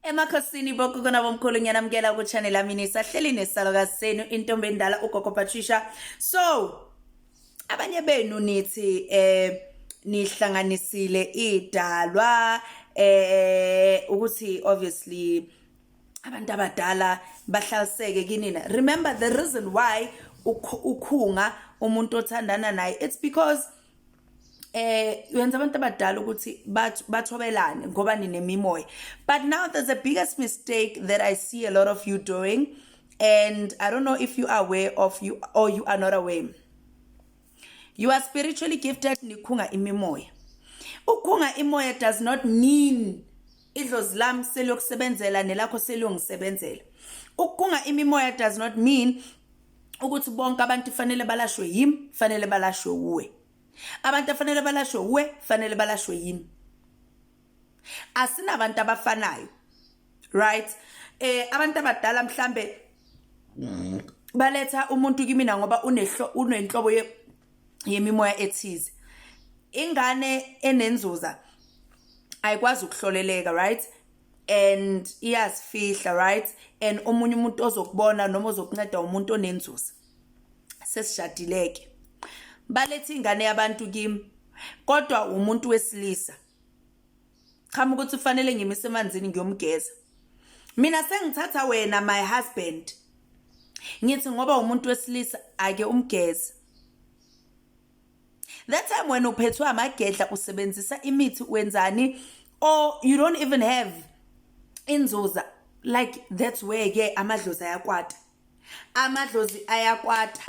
emakhosini bokukona bomkhulu ngiyanamukela kuchannel lami nisahleli nesalokazi senu intombi endala ugogo patricia so abanye benu nithi eh nihlanganisile idalwa eh ukuthi obviously abantu abadala bahlaliseke kinina remember the reason why ukhunga umuntu othandana naye it's because eh yenza abantu abadala ukuthi bathobelane ngoba ninemimoya but now there's the biggest mistake that i see a lot of you doing and i don't know if you are aware of you or you are not aware you are spiritually gifted nikhunga imimoya ukhunga imoya does not mean idlozi lami seliyokusebenzela nelakho seliyongisebenzela ukukhunga imimoya does not mean ukuthi bonke abantu fanele balashwe yimi fanele balashwe uwe abantu afanele balashwe uwe fanele balashwe yimi asinabantu abafanayo right eh abantu abadala mhlambe baletha umuntu kimina ngoba unehlo unenhlobo yemimoya ethize ingane enenzuza ayikwazi ukuhloleleka right and iyazifihla right and omunye umuntu ozokubona noma ozokunceda umuntu onenzuzo sesishadileke balethe ingane yabantu kimi kodwa umuntu wesilisa chama ukuthi ufanele ngimise emanzini ngiyomgeza mina sengithatha wena my husband ngithi ngoba umuntu wesilisa ake umgeze that time wena uphethwe amagedla usebenzisa imithi wenzani or you don't even have inzuza like that's where ke amadlozi ayakwata amadlozi ayakwata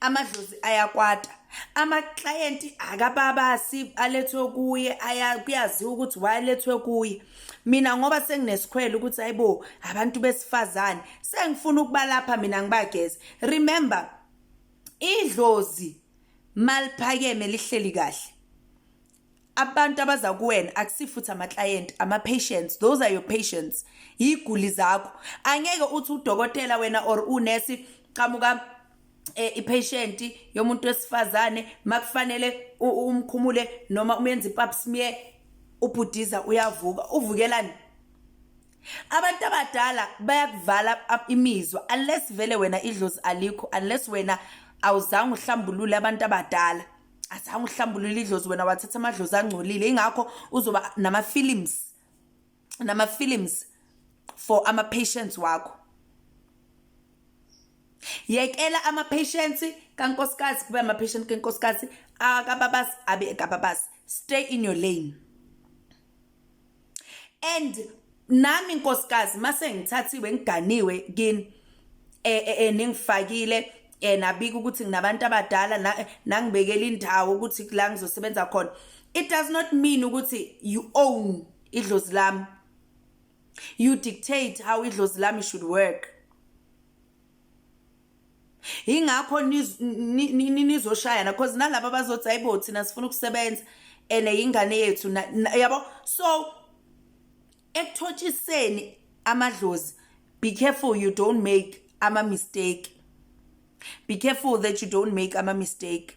amadlozi ayakwata amaklayenti akababasi alethwe kuye kuyaziwa ukuthi wayelethwe kuye mina ngoba senginesikhwele ukuthi hayibo abantu besifazane sengifuna ukubalapha mina ngibageze remember idlozi maliphakeme lihleli kahle abantu abaza kuwena akusifuthi ama-client ama-patients those are your patients yiguli zakho angeke uthi udokotela wena or unesi qamuka eh, i-patient yomuntu wesifazane makufanele umkhumule noma umenza ipap smear ubhudiza uyavuka uvukelani abantu abadala bayakuvala imizwa unless vele wena idlozi alikho unless wena awuzange uhlambulule abantu abadala azange uhlambulule idlozi wena wathatha amadlozi angcolile ingakho uzoba nama-films nama-films for ama-patients wakho yekela ama-patients kankosikazi kube ama-patient kankosikazi akababasi abe ekababasi stay in your lane and nami nkosikazi mase ngithathiwe ngiganiwe kini eh, eh, eh ningifakile eh nabika ukuthi nginabantu abadala nangibekela indawo ukuthi la ngizosebenza khona it does not mean ukuthi you own idlozi lami you dictate how idlozi lami should work ingakho nizoshayana because nalaba bazothi hayibo thina sifuna ukusebenza and yingane yethu yabo so ekuthotshiseni amadlozi be careful you don't make ama-mistake be careful that you don't make ama-mistake